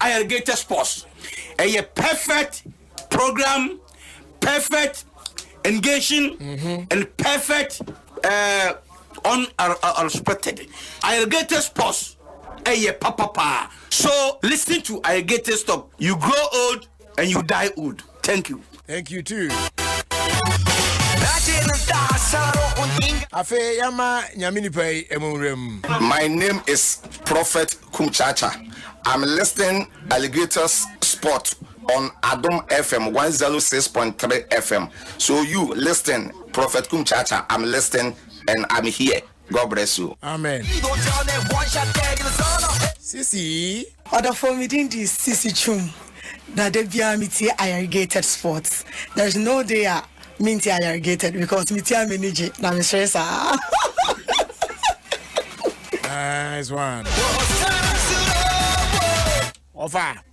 Irrigated sports ɛyɛ perfect program perfect engaging mm -hmm. and perfect uh, unrespected irrigated sports ɛyɛ papapaa so listen to irrigated stop you grow old And you die old. Thank you. Thank you too. afei yɛma nyame nipa yi ɛmɔwura mu my name is prophet kumchacha i'm listening alligators sport on adom fm 106.3 fm so you listen prophet kumchacha i'm listening and i'm here God bless you. Amen. Sisi. Ɔdɔfoɔ me din de Sisi Twum na da biara metie ayarigated sports there is no day a mentie ayarigated because metie a m'ani gye na mesere saa Nice one. Ofa.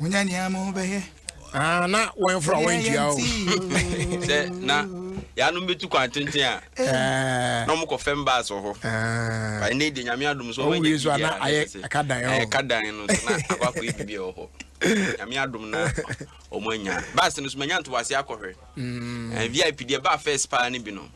Munya nea mo ho bɛyɛ. Ah, na wɔn fura wɔn ntua o. Sɛ na yanom bɛtu kwan tenten a na wɔn kɔ fɛm baas wɔ hɔ. Ba ne de nyame adum so wɔn yɛ bibi a ayɛ ɛka dan ɛwɔ. Ɛka dan no so na akɔ akɔ yɛ bibi ɛwɔ hɔ. Nyame adum na wɔn anya. Baas no so manya ntoboase akɔhwɛ. Mm. Eh, VIP deɛ baa fɛs paa ne bi no.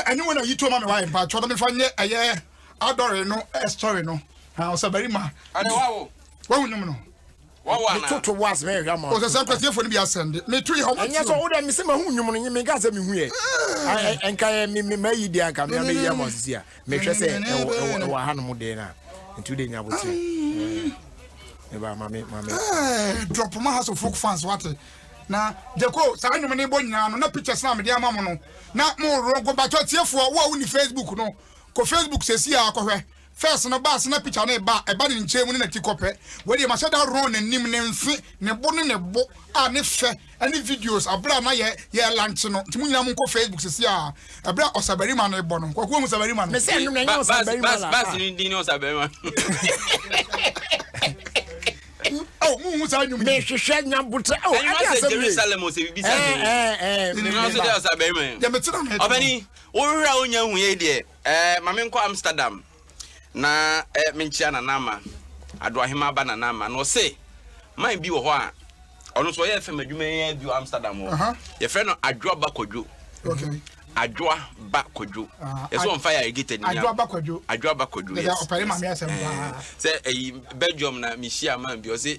ɛne wona yi toma me wae mpa kyɛ ɔdɔ mefa nyɛ ɛyɛ adɔre no story no ɔsɛ barima wahu nwom no Wawa na. Metoto wo ase mɛhwehwɛ ama wo. Ɔsɛ sɛ nkwatiefo no bi asɛm de meto yɛ hɔ mate o. Ɛnyɛ sɛ wo dɛ mese mahu nnwom no nye menkaa sɛ mehu ɛ. Nka yɛ me me mayi deɛ anka me a mɛyi ama wo sisi a mehwɛ sɛ ɛwɔ ɛwɔ ɛwɔ ahanom deɛ na nti wo deɛ nya aboterɛ. Me ba ma me ma me. Drop ma House of Folk fans wate. Na Jeko saa nnwom ne bɔ nyinaa no na pictures na mede ama mo no na mo wrong bato atiefoɔ wo a wonni Facebook no kɔ Facebook sɛsi a kɔhwɛ First no baa sena picture no ba a ɛba ne nkyɛn mu ne nati kɔpɛ wei deɛ mahyɛ da run n'anim ne nfe ne bo ne ne bo a ne fɛ ɛne videos abere a na yɛ yɛ lunch no nti mo nyinaa mo nkɔ Facebook sisi a ɛbere a ɔsabarima no bɔ no kwaku ehu sabarima no. Mese ɛno na ɛnyɛ ɔsabarima la. Baasi ne din ne ɔsabarima. Oh, mu hu saa nyum. Me hwehwɛ nyabotre. Oh, ɛdi asɛm ye. Jerusalem o se bibi sa. Eh eh eh. Ni no so de ɔsabarima. Ya me tena me. Obani, wo hwehwɛ a onya hu ye deɛ. Eh ma me nkɔ Amsterdam na eh me nkyia Nana Ama, Adoahema ba Nana Ama. Na ɔse man bi wɔ hɔ a ɔno nso ɔyɛ FM adwuma yi ara bi wɔ Amsterdam hɔ. Yɛfrɛ no Adwoa Ba Kwadwo. Adwoa Ba Kwadwo. Yɛsɛ ɔmfa yɛ ayɛgita ni. Adwoa Ba Kwadwo. Adwoa Ba Kwadwo, yes. Sɛ ɛyi Belgium na mehyia man bi ɔse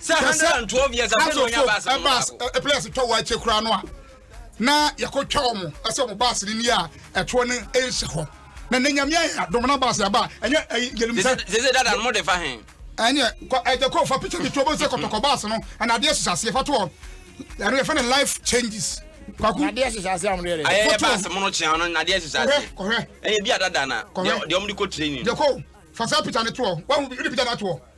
sɛ hundred and twelve years afei na ɔnya baasi no baako ɛ players twa wɔn akyɛ kura no a na yɛkɔ twa wɔn ɛsɛ wɔn baasi no ni a ɛtoɔ no ɛnhyɛ hɔ na ne nyamea yɛ adom na baasi aba ɛnyɛ ɛyi yɛlum sɛ. sese dada mo de fa hɛn. ɛnyɛ kɔ ɛjɛ kɔ fa picture mi tu ɔbɛn sɛ kɔtɔkɔ baasi no ɛna adeɛ sisa aseɛ fa to hɔ ɛno yɛ fɛ ne life changes kwaku. nadeɛ sisa ase amu yɛrɛ. ayɛ yɛ baasi mu no kyɛn no nadeɛ sisa ase. kɔhɛ kɔhɛ. ɛyɛ bi a dada na. kɔhɛ deɛ ɔmo de kɔ training. jɛ kɔ fasa picture ne to hɔ wɔn mu bi de picture na to hɔ.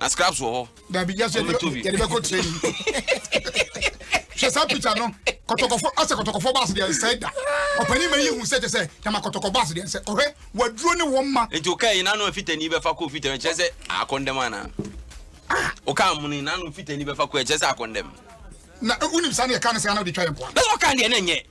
na scraps wɔ hɔ. dabi yasọ yɛ de bɛ kɔ training hwɛ saa picture no kɔtɔkɔfɔ asɛ kɔtɔkɔfɔ baasi deɛ nsɛn da ɔpanyin ma yi hu sɛ kyɛ sɛ dama kɔtɔkɔ baasi deɛ nsɛ ɔhwɛ waduro ne wɔn ma. nti o kaa yi nanu fitani bɛ fa ko fitani kyɛ sɛ akɔndɛm ana o kaa mu ni nanu fitani bɛ fa ko kyɛ sɛ akɔndɛm. na wunim saa ne yɛ kaa ne sɛ ana o de twa yɛ nkɔ. na sɛ ɔkaa deɛ ne nyɛ.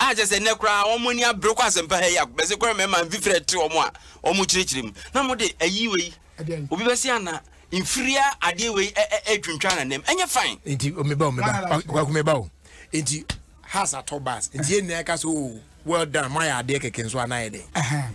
A kyerɛ sɛ nnɛ koraa wɔn ani abere kɔ asɛmpa ha yi a bɛsi kɔrɔ mmarima mfi frɛ te wɔn a wɔn kyerɛkyerɛ mu na wɔn de ayi wei obi bɛsi ana mfiria adeɛ wei ɛtwintwan na nam ɛnyɛ fine. nti omeba omeba ɔkwaku meba o nti has atɔ bas nti yɛn nyinaa ka so o well done mo ayɛ adeɛ kɛkɛ nso anayɛ dɛ.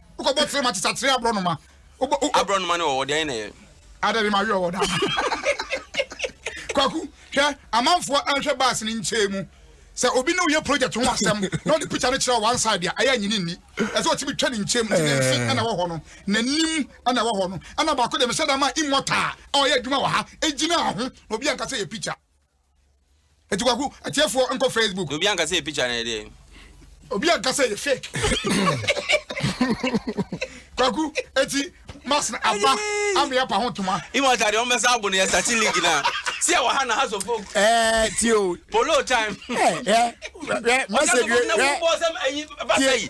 O kɔ bɔ tiri ma ti sa tiri aburɔ noma. O bɔ o. Aburɔ noma ni ɔwɔ deɛ na yɛ. Ada bi ma wi ɔwɔ da. Kwaku hwɛ amanfoɔ ɛnhwɛ baasi ni nkyɛn mu. Sɛ obi ne oyɛ project ho asɛm na ɔde picture no kyerɛ one side a ɛyɛ nyini nni. Ɛsɛ ɔtumi twɛ ne nkyɛn mu ti ne nse ɛna ɛwɔ hɔ no n'anim ɛna ɛwɔ hɔ no ɛna baako deɛ mehyɛ da ma immortal a ɔyɛ adwuma wɔ ha egyina ho na obi anka sɛ yɛ picture. Eti kwaku atiefoɔ nkɔ Facebook. Obi anka sɛ yɛ picture na yɛ deɛ. Obi anka sɛ yɛ fake. Kwaku eti mas na aba ama yɛ pa ho toma. Ima ɔta deɛ ɔmbɛsa abo no yɛ sati league na. Si yɛ wɔ ha na ha so folk. Ɛɛ eh, ti o. Polo time. Ɛɛ eh, ɛɛ eh, message yɛ. Ɔsɛ no bɔ sɛm ɛyi basa yi.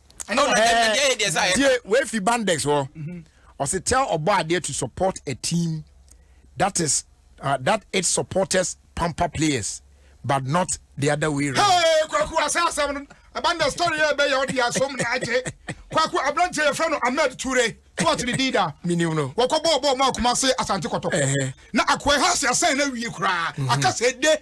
ɛna ɔno ɛɛ ɛna ɛyɛ deɛ sɛ ayɛ tie wei fi bandex hɔ ɔsi tell ɔbɔ adeɛ to support a team that is uh, that its supporters pamper players but not the other way round. Hey, kwaku asa asɛm no ɛba na story yɛ ɛbɛyɛ ɔde asom ne agye kwaku aberanteɛ yɛfrɛ no ahmed ture so ɔte ne din da Minim no. wɔkɔ bɔɔl bɔɔl mu akoma se asante kɔtɔkɔ Ɛhɛ. na akoe ha se asɛn no awie koraa akasɛ de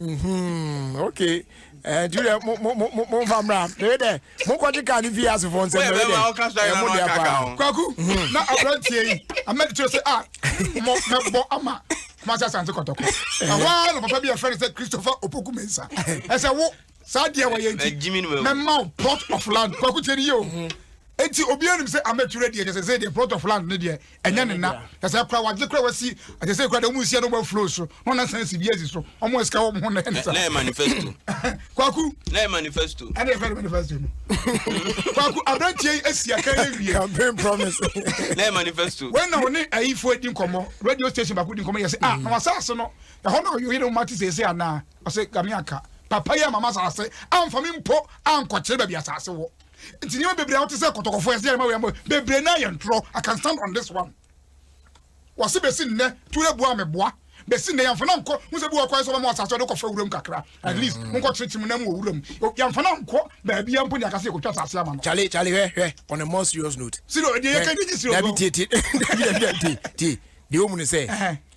Mm-hmm. Okay. Eh, do that. Mo mo mo mo mo fa mra. Dey there. Mo ko jika ni via se fon se mo dey. Eh, mo dey apa. Kwaku. Mm-hmm. Na abrantie yi. Amed tell say ah. Mo me bo ama. Kuma sa santi kotoko. Eh. Awa no papa bi a friend say Christopher Opoku Mensa. I say wo saa deɛ wɔyɛ nti mɛma wo plot of land kwaku tiɛ ne yie o mhm. nti obiara nim sɛ amature deɛ kyɛ sɛ sɛ deɛ plot of land ne deɛ ɛnyɛ ne na kyɛ sɛ kora wagye kora wasi kyɛ sɛ kora deɛ ɔmo nsia no ɔmo afuro so na ɔna san si bi asi so ɔmo asika wɔn ho na ɛne sa na yɛ manifesto kwaku na yɛ manifesto ɛne yɛ fɛn manifesto no kwaku aberanteɛ yi asi aka yɛ wie campaign promise na yɛ manifesto wɛn na ɔne ayifo adi nkɔmɔ radio station baako di nkɔmɔ yɛ sɛ ah na wasa ase no ɛhɔ na ɔyɛ ɔyɛ na ɔmo ati sɛ ɛsɛ anaa Ɔse Game anka papa yi amma m'asase amfa me mpo ankɔkyere baabi asase wɔ. Nti nneɛma bebree a wote sɛ kɔtɔkɔfoɔ ɛsɛ yɛn ma wei ama wei bebree naa yɛ ntorɔ. I can stand on this one. Wɔse besi nnɛ Ture boa me boa. Besi nnɛ yɛmfa no nkɔ ho sɛ bi wɔ kwan sɛ ɔbɛma asase ɔde kɔfa wuram kakra. At least mm. monkɔkyere kyi mu na mu wɔ wuram. Yɛmfa no nkɔ baabi a mpo ne akasɛ yɛkɔtwa asase ama no. Charlie, Charlie, hwɛ hwɛ on a more serious note. Serious, deɛ yɛka nyɛ serious. Dabi tie tie. Dabi dabi tie tie. Deɛ ɔmu ne sɛ.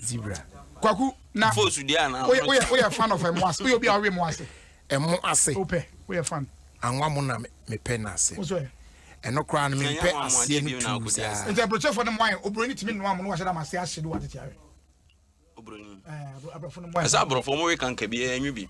zebra. Kwaku na woyɛ woyɛ woyɛ fan of ɛmo ase woyɛ obi a ɔwe mo ase. Ɛmo ase. Wopɛ woyɛ fan. Anwa mo na me pɛ na ase. Wosɔ yɛ. Ɛno koraa no me mpɛ aseɛ no tuu saa. Nti aburokyɛfoɔ no mo ayɛ oburoni tumi noa mo no wahyɛ dam ase ahye do atete ayɛ. Oburoni. Ɛɛ aburofo no mo ayɛ. Ɛsɛ aburofo mo we kanka bi ɛnwi bi.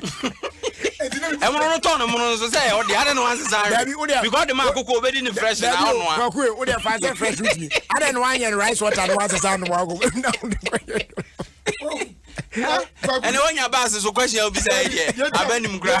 ɛmono no tɔn no mono nso sɛ ɔde adɛ no ansesa nwe because de ma akoko obɛdi ne fresh na ɔnoa kwakoe wode ɛfa sɛ fresh wotumi adɛ no anyɛ no rice water no wansesa nom akoko ɛne wonya baase so kwasi a wobisa ɛdeɛ abɛnim kora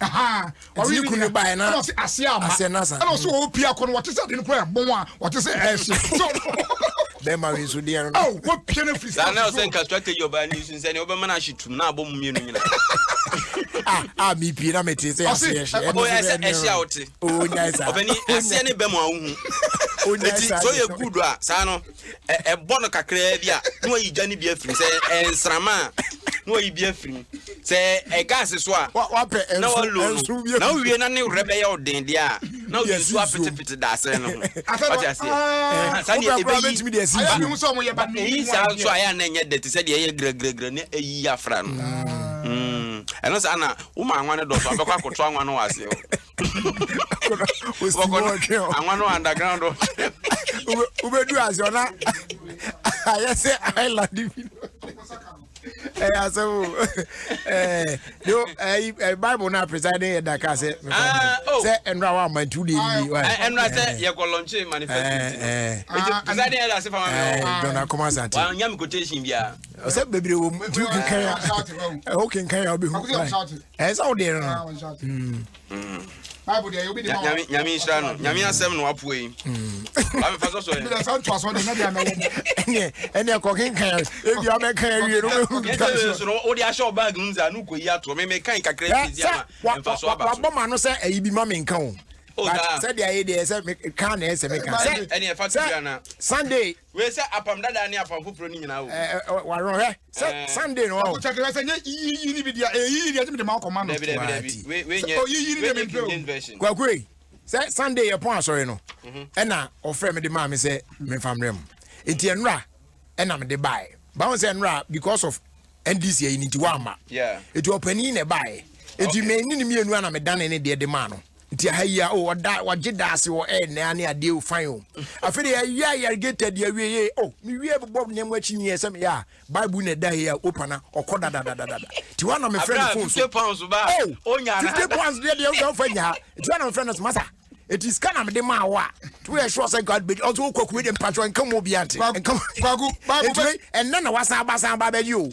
ɔwe ne kunu no baeɛ na ɔse aseɛ ama ɛna ɔse mm. ɔwɔ pie akɔ no wɔte sɛ ade no kora ɛbɔn a wɔte sɛ ɛhye bɛma we nso deɛ no wɔpie no firi saa na ɔsɛ nka strategy ɔbaa ne nsu sɛ ne wobɛma no ahye tum na abɔ mu mmienu nyina a mepie na mete sɛ aseɛ hye ɛhye a wote ɔbɛni aseɛ ne bɛm a wohu ɛti sɛ ɔyɛ good a saa no ɛ ɛbɔ no kakraa bi a na wayi gya no bi afiri mu sɛ ɛyɛ nsrama a na wayi bi afiri mu sɛ ɛyɛ gaase so a Wa- wapɛ na ɛnso walo ɛnso no bi na afiri wowie na ne werɛ bɛyɛ wo den deɛ a na wode Yes, nsuo nsuo. afetefete daasere no ho Asɛ no, wate aseɛ ah, Aha, saa deɛ wopɛ koraa ɛbɛyi bɛtumi de asi ayɛ nsuo ne mu. ho sɛ ɔmo yɛ ba ne ɛyi mu saa adeɛ. nso a ɛyɛ a na ɛnyɛ dɛ te sɛ deɛ ɛyɛ gragragra ne ɛyi afra no Mm. ɛno saa na woma anwa no dɔso abɛkɔ akɔto anwa no wɔ aseɛ hɔ anwa no underground wobɛdu ase ɔna ayɛ sɛ island bi ɛyɛ asɛm o bible no apresa ne yɛ daka sɛ sɛ ɛnora wa ama nti wode ɛnniɛnora sɛ yɛkɔ lɔnkye manifestdɔnakɔm asantenya me quotation biaa sɛ bebree wɔ mu nti wokenkan a wokenkan a wobɛhu ɛyɛ sɛ wodeɛ no nyame nhyira no nyame asɛm na wapoa yi amefa sɔ sɔ ɛneɛ kɔkenka ɛbi wabɛka awie nowode ahyɛ wo bag mu sɛ no kɔyi atoɔ memekan kakra biama mfa so aba wabɔ ma no sɛ ayi bi ma menka o sɛdeɛ ayɛ deɛ sɛ ka na ɛsɛ meka sɛ sunday Wei sɛ apam dada ne apam foforɔ no nyinaa o. Eh, eh, wɔawerɛ hwɛ sɛ eh. Sunday no ɔwɔ. Ɔkɔkyɛke hwɛ sɛ nyɛ yiyi ne bi deɛ ɛyɛ yiyi deɛ ɛtumi de ma ɔkɔma no. Dabi dabi dabi sɛ ɔyiyi ne deɛ mempɛ o. Kwakue sɛ Sunday yɛ pɔn asɔre no mhm. ɛna ɔfrɛ me de maa me sɛ memfa mmerɛ mu nti ɛnora ɛna mede baeɛ bawo sɛ ɛnora because of ndc ayi ne nti wɔamma ɛti ɔpanin na ɛbaeɛ ɛti mɛni ne mmienu ana medane ne deɛ de maa no Nti aha yi a o ɔda ɔgye daase wɔ ɛyɛ nɛa ne adeɛ o fine o. Afei de yɛwie a yɛregeta di awie yɛ o mewie bobɔ nneɛma akyi nyɛ sɛ meyɛ a Bible na ɛda hei a opa na ɔkɔ dadadadadada. Nti hɔ a na mefrɛ no phone so o 50 pounds deɛ deɛ wosɛ wofa nyaa. Nti hɔ a na mefrɛ no so masa nti sika na mede maa wo a nti woyɛ sure sɛ God bɛgye ɔso wokɔ kuwe deɛ mpakyɛ nka mu obiara nte. Nka mu. Nti ɛnna na wasan aba san aba bɛgye o.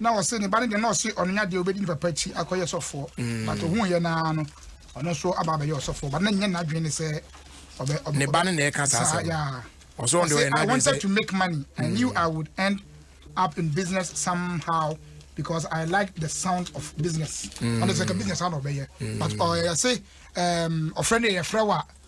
Na ɔse ne ba no deɛ na ɔse ɔno nyɛ adeɛ ɔbɛdi ne papa akyi akɔyɛ sɔfoɔ but ɔhuuiɛ no ara no ɔno nso aba abɛyɛ ɔsɔfoɔ but na ɛnyɛ n'adwene ne sɛ ɔbɛ ɔbɛ ne ba no na ɛka saa asɛm yeah ɔsɛ ɔno deɛ ɔyɛ n'adwene sɛ I wanted to make money I knew I would end up in business somehow because I like the sound of business ɔno sɛ ka business ano ɔbɛyɛ but ɔyɛ se ɔfrɛ no yɛ frɛ wa.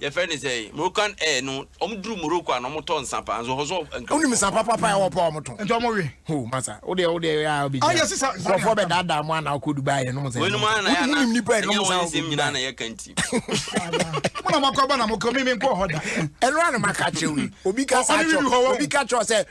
Yɛfrɛ no sɛ Moroccan Air no ɔmo duru Morocco a na ɔmo tɔ nsa paa nso hɔ so nka. Wonim nsa papapa ɛwɔ hɔ paa ɔmo tɔn. Nti ɔmo we. Hoo masa wodeɛ wodeɛ ɛyɛ a wobɛgyina. Ayɛ sisa nsa deɛ. Nkorɔfoɔ bɛ daadaa mo ana wokɔ Dubai yɛ nom nsa yɛ nom nsa. Wodeɛ mo nim nipa yɛ nom nsa wokɔ Dubai. Ɛnyɛ wɔn nsɛm nyinaa na yɛka nti. Mo na mo akɔ ba na mo kɔ me me nkɔ hɔ da. Ɛno ara na maka kyerɛ wo yi obi ka saa kyerɛ obi ka kyerɛ sɛ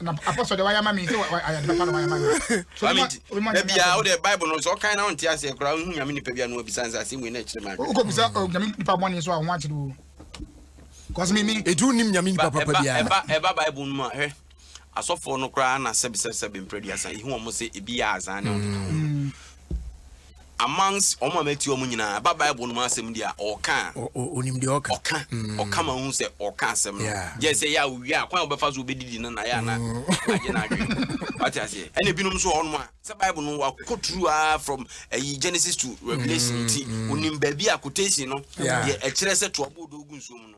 na apɔ sɔ de wayɛ ama mi sɛ ayɛ de bɛpa na wayɛ ama mi. Maame nti na bia o de bible no sɛ ɔkan na ɔnte aseɛ koraa ɔhu nyame nipa bia no abisa nsa asɛm wei na ɛkyerɛ maa wokɔ bisa nyame nipa bɔne nso a ho akyere o kɔsɛ mimi ɛti wonim nyame nipa papa biaa ɛba ɛba bible no mu a hwɛ asɔfoɔ no koraa na sɛbesɛbesɛbe mprɛ duasa ɛhu ɔmo sɛ ebi yɛ azaa ne ɔmo amongst wɔn a mɛti wɔn nyinaa, ɛba Bible no mu asɛm deɛ a, ɔɔka a. Onim deɛ ɔka. Ɔka. Mm. Ɔka ma wohu sɛ ɔka asɛm no. Yeah. Gyɛ sɛ yɛ a owie a, kwan a wobɛfa so wobɛdidi no na yɛ a na mm. agye no adwene. Wate aseɛ. Ɛna ebinom nso wɔ hɔnom a, sɛ Bible no wakɔ turu ara from ayi Genesis to Revelation mm, nti, wonim baabi a quotation no deɛ ɛkyerɛ sɛ toa bɔɔdo gu nsuo mu no.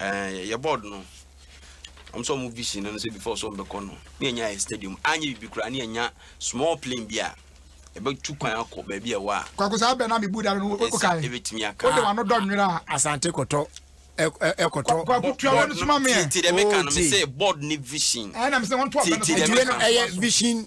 ɛɛ yɛ bɔɔd no wɔn sɛ wɔn vision no sɛ before so wɔn bɛkɔ no ne yɛ nya yɛ stadium anyɛ bibi koraa ne yɛ nya small plane bi a ɛbɛtu kwan akɔ baabi a ɛwɔ a. kwako saa bɛn na mi bu da no o ka yi ebetumi aka o de wa no dɔ nwere a. asante kɔtɔ ɛkɔtɔ kwako tua wɛn suma mi yɛ. ti ti dɛ mi ka no mi sɛ board ni vision. ɛna mi sɛ wɔn to abɛn no so. ti ti dɛ mi ka no ɛyɛ vision.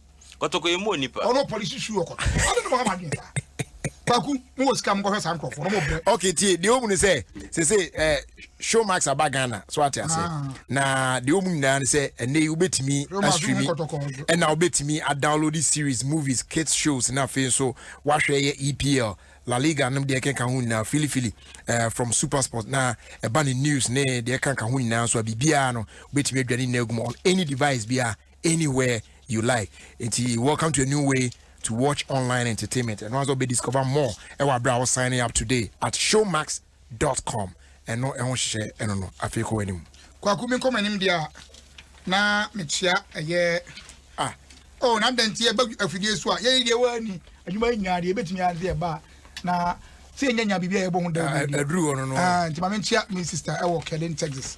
kɔtɔkɔ yɛ mu onipa. ɔno polisi su ɔkɔtɔ ɔno ne mo ama adwene saa kwaku mo wɔ sika mo kɔhwɛ saa nkurɔfoɔ no mo brɛ. ok tie deɛ ɔmu ne sɛ sese ɛɛ eh, show max aba ghana so ate ase ah. na deɛ ɔmu nyinaa ne sɛ ɛnɛ yi wobɛtumi astreami ɛna wobɛtumi adownload series movies kids shows na afei nso wahwɛ yɛ epl La Liga nom deɛ ɛkenka ho nyinaa filifili uh, from Supersport na ɛba ne news ne deɛ ɛkenka ho nyinaa nso a biribiara no wobɛtumi adwane nyinaa gu mu on any device biara anywhere you like nti welcome to a new way to watch online entertainment ɛno asɛ ɔbɛ discover more ɛwɔ abira ɔ signing up today at showmax dot com ɛno ɛho hyehyɛ ɛno no afei kɔ w'anim. kwaku mi nkɔmɔ anim deɛ na mekyia ɛyɛ ah oh na dɛn ti ɛbɛ afidie so a yɛyɛ deɛ wɔ ani adwuma yɛ nyinaa deɛ ebɛtumi ase ɛba na sɛ yɛnyɛ nya biribi a yɛbɔ ho dawuro deɛ ɛduru hɔ no no nti ma menkyia me sister ɛwɔ kɛden texas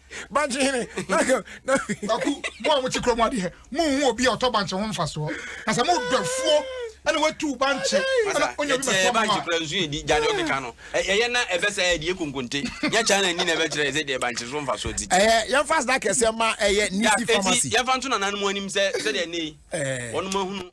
bankye hene kwaku mo a mo kye kuro mu adeɛ mo hu obi a ɔtɔ bankye ho mfasoɔ na sɛ mo dɔfuo ɛna watu bankye ɛna onye obi bɛtɔ mo a. bankye kura nsu yɛ di gya de ɔde ka no ɛyɛ na ɛbɛ sɛ ɛyɛ deɛ konkonte nyɛ kyɛn na ni na ɛbɛ kyerɛ ɛsɛ deɛ bankye so mfasoɔ ti. ɛyɛ yɛn fa sida kɛseɛ ma ɛyɛ nisi pharmacy. yɛn fa nto nananom anim sɛ sɛ deɛ ne wɔn mo ahunu.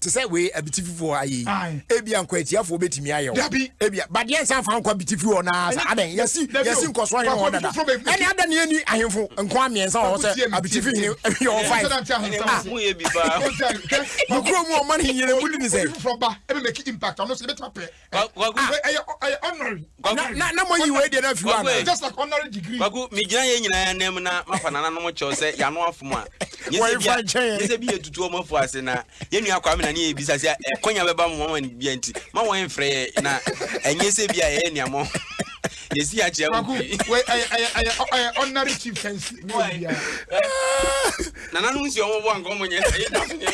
te sɛ wei abitififoɔ ha yei ebia nkwatiafoɔ bɛtumi ayɛ wo ebia badeɛ nsa mfa nkɔ abitifi hɔ naa sɛ adɛn yɛsi yɛsi nkɔsoɔ hene hɔ dada ɛne adɛn ne yɛni ahemfo nkoa mmiɛnsa wɔ hɔ sɛ abitifi hene yɛ wɔ five mokuro mu ɔma ne nyere mu di ne sɛ na moyi wei deɛ no afi hɔ ana just like honorary degree kwaku megyina yɛ nyinaa anam na mafa nananom kyɛw sɛ yɛano afom a nyɛ sɛ bi yɛtutu ɔma fo ase na yɛnua kwa me na ne yɛbisa sɛ ɛkwanya bɛba mo mama no bia nti ma wɔn mfrɛ yɛ na ɛnyɛ sɛ bi a yɛyɛ nneɛma yɛsi akyerɛ kwaku ɛyɛ honorary chief fɛnsi nananom si ɔmɔbɔ anka ɔmɔnyɛ sɛ yɛda so nyɛ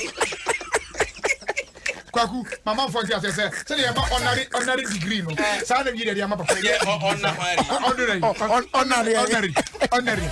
Kwaku, ma amanfoɔ nte aseɛ sɛ sɛdeɛ yɛma ɔnare ɔnare degree no saa na yɛde ama papa yɛ ɔnare ɔnare ɔnare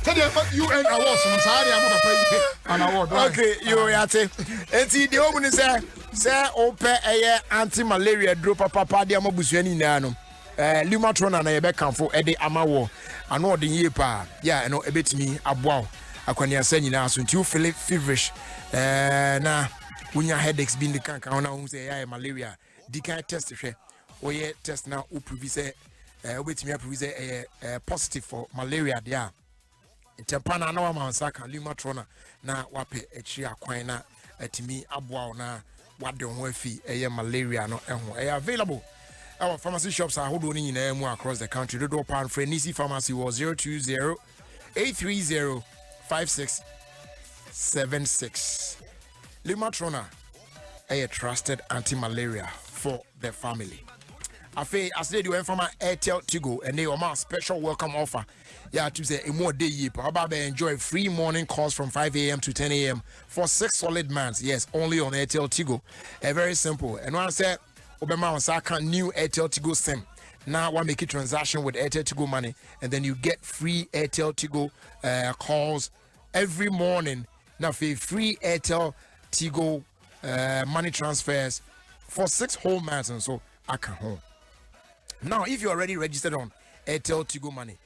sɛdeɛ yɛma UN awards no saa de ama papa yi an award okay yo yɛate enti deɛ ɔmu ne sɛ sɛ wopɛ ɛyɛ anti malaria duro papapa de ama busua no nyinaa no eh, lumatrona na yɛbɛkamfo de ama wɔ ano ɔden yie paa yɛ a ɛno ɛbɛtumi aboa wo akwaneasa nyinaa so nti wofele feverish eh, na wonya headaches bi ne kanka ho na wohu sɛ ɛyɛ ayɛ malaria a di kan test hwɛ woyɛ test na woprovi sɛ eh, wobɛtumi aprovi sɛ ɛyɛ eh, positive for malaria deɛ a ntɛmpa no ana wama nsa ka lumatrona na wapɛ akyiri akwan na atumi aboa wo na wade ho afi ɛyɛ malaria no ho ɛyɛ available ɛwɔ pharmacy shops ahodoɔ no nyinaa mu across the country dodoɔ paa mfrɛ nisi pharmacy wɔ 020 eight three zero five six seven six limatrona ɛyɛ trusted anti malaria for the family afei asede di wɔn fama airtel tigo ɛnna wɔn a special welcome offer yɛ atum sɛ emu ɔde yie pa ɔba abɛ enjoy free morning calls from five a.m. to ten a.m. for six solid months yes only on airtel tigo ɛ eh, very simple ɛno asɛ. wobɛma wo nsa aka new airtel tigo sim na wa make transaction with airtel tigo money and then you get free airtel tigo uh, calls every morning na afei free airtel tigo uh, money transfers for six whole months nso aka ho now if you already registered on airtel tigo money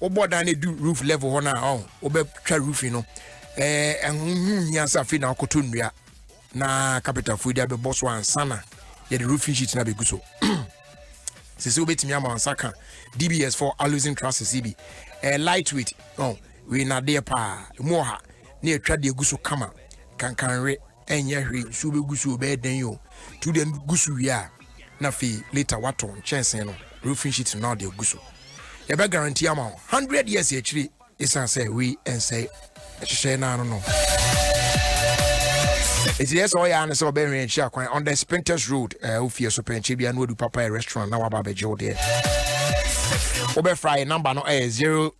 wobɔ dan no du roof level hɔ no a ɔn wobɛtwa roofing no ɛɛ ɛho hia sɛ afei na akoto nnua na kapitafoɔ de abɛbɔ so ansa na yɛde roofing sheet no abɛgu so sisi wobɛtumi ama nsa ka dbs for alusin trusses yi bi ɛɛ lightweight ɔn wei nadeɛ paa ɛmu ɔha ne atwa deɛ gu so kama kankanwe ɛnyɛ hwee nsuo bɛgu so bɛyɛ dɛn o nti wode gu so wie a na afei later wato nkyɛnsee no roofing sheet no na ɔde agu so yɛbɛ guarantee ama wo hundred years akyire ɛsiane sɛ wei ɛnsɛ ɛhyehyɛ no ano no ɛti deɛ sɛ ɔyɛ a no sɛ ɔbɛhwɛ akyi akwan on the spintex road eh, wofie so pɛnkyɛ bia na wadu papa restaurant na waba abɛgye wo deɛ wobɛfra yɛ number no ɛyɛ eh, zero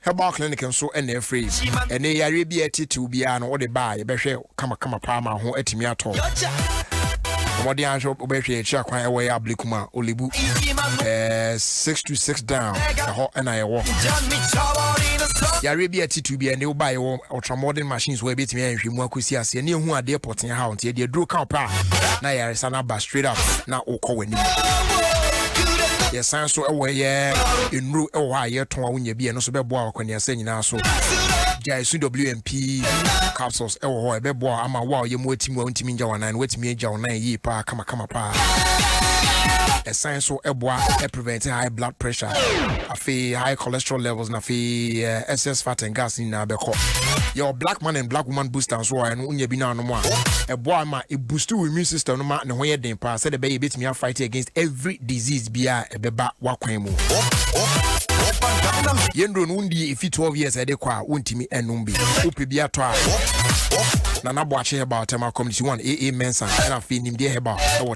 Herbal clinic nso na ɛfrɛ yi. Ɛne yareɛ bi a ɛtetew biara no wode ba a yɛbɛhwɛ kamakama paa ma ho atumi atɔ wo. Mmɔden ahwɛ wobɛhwɛ yɛn akyiri akwan ɛwɔ yɛ ablekum a olebu eh, six to six down ɛhɔ ɛna ɛwɔ. Yareɛ bi a ɛtetew biara ne woba yɛwɔ ultramodern machines wɔ ɛbɛtumi ayɛ nhwɛmu akɔsi aseɛ ne ɛhu adeɛ pɔtee tea haw nti ɛde aduro ka ɔpɛ a na ayaresa no aba straight up na wokɔ w'anim yɛsan so wɔ yɛ nnuro wɔ hɔ a yɛtɔn a wonya bi ɛno so bɛboa wakɔneasɛ nyinaa so gyae su wmp capsules ɛwɔ hɔ ɛbɛboa ama wo a ɔyɛ mu ati mu a wontumi ngya wanan no woatumi agya wanan yie paa kamakama paa ɛsan so ɛboa ɛprevent high blood pressure Afei high cholesterol levels na afei eh, excess fat and gas nyinaa bɛkɔ. Yɛwɔ black man and black woman booster nso a ɛno wonya bi na anom a ɛboa ma ɛboost wo immune system no ma ne ho yɛ den paa sɛdeɛ ɛbɛyɛ ɛbɛtumi afight against every disease biara a ɛbɛba w'akwan mu. Yɛn duro no wondie ɛfi 12 years a ɛde kɔ a wontumi ɛnom bi. Wopɛ bi atɔ a Nana Boakye Herbal Thermal Community 1 AA Mensa ɛna afei Nimdeɛ Herbal ɛwɔ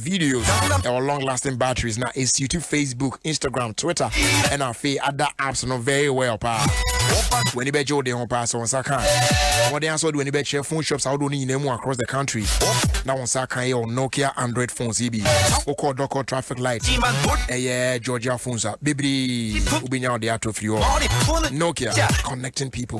videos ɛwɔ long lasting batteries na esuit facebook instagram twitter ɛna afei ada apps no very well paa w'ani bɛgye wo de ho paa sɛ wo nsa ka wɔden asɛ wode w'ani bɛkyerɛ phone shops ahodoɔ no nyinaa mu across the country na wo nsa ka yɛ wo nokia android phones yi bi wokɔ dɔkɔ traffic light ɛyɛ georgia phones a bebree wobɛnya wode atɔ firi hɔ nokia connecting people